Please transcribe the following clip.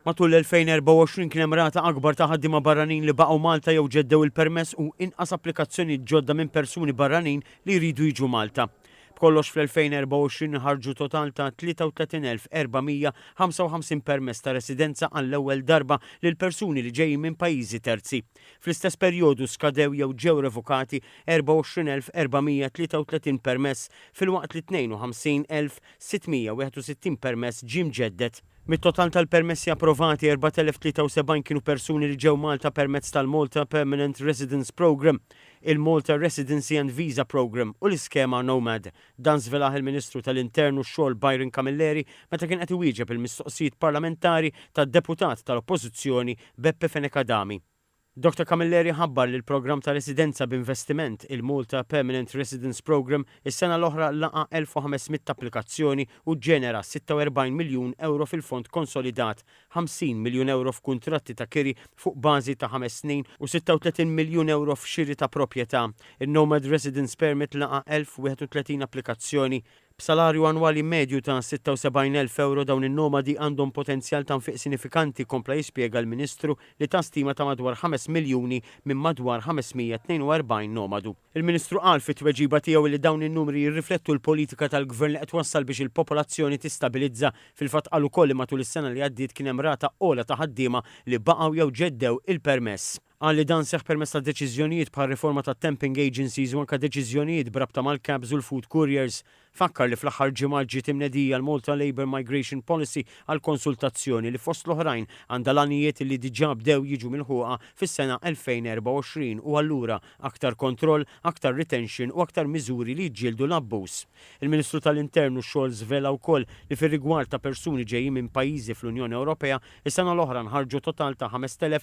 Matul l-2024 kien hemm rata akbar ta' ħaddiema barranin li baqgħu Malta jew ġeddew il-permess u inqas applikazzjonijiet ġodda minn persuni barranin li jridu jiġu Malta. B'kollox fl-2024 inħarġu total ta' 33,455 permess ta' residenza għall-ewwel darba lil persuni li ġejjin minn pajjiżi terzi. Fl-istess perjodu skadew jew ġew revokati 24,433 permess filwaqt li 52,000 661 permess ġie mġedded. Mit-total tal-permessi approvati, 4,073 kienu persuni li ġew Malta permezz tal-Malta Permanent Residence Programme, il-Malta Residency and Visa Programme u l-iskema Nomad. Dan żvelah il-Ministru tal-Intern u x-Xogħol Byron Camilleri meta kien qed iwieġeb il-mistoqsijiet parlamentari tad-Deputat tal-Oppożizzjoni Beppe Fenech Adami. Doctor Camilleri ħabbar li l-programm ta' residenza b'investiment, il-Malta Permanent Residence Programme, is-sena l-oħra laqa' 1,500 applikazzjoni u ġġenera 46 miljun ewro fil-fond konsolidat, 50 miljun ewro f'kuntratti ta' kiri fuq bażi ta' ħames snin u 36 miljun ewro f'xiri ta' proprjetà. In-Nomad Residence Permit laqa' 1,031 applikazzjoni, B'salarju annwali medju ta' 76,000 ewro dawn in-nomadi għandhom potenzjal ta' nfiq sinifikanti, kompla jispjega l-Ministru li ta stima ta' madwar ħames miljuni minn madwar 542 nomadu. Il-Ministru qal fit-tweġiba tiegħu li dawn in-numri jirriflettu l-politika tal-Gvern li qed twassal biex il-popolazzjoni tistabilizza. Fil-fatt qal ukoll li matul is-sena li għaddiet kien hemm rata ogħla ta' ħaddiema li baqgħu jew ġeddew il-permess. Qal li dan seħħ permezz ta' deċiżjonijiet bħar-riforma tat-temping agencies u anke deċiżjonijiet b'rabta mal-cabs u l-food couriers. Fakkar li fl-aħħar ġimgħat ġiet imnedija l-Malta Labour Migration Policy għal konsultazzjoni li fost l-oħrajn għandha l-għanijiet li diġà bdew jiġu milħuqa fis-sena 2024 u allura aktar kontroll, aktar retention u aktar miżuri li jiġġieldu l-abbuż. Il-Ministru tal-Intern u x-Xogħol żvela wkoll li fir-rigward ta' persuni ġejjin minn pajjiżi fl-Unjoni Ewropea, is-sena l-oħra nħarġu total ta' 5,000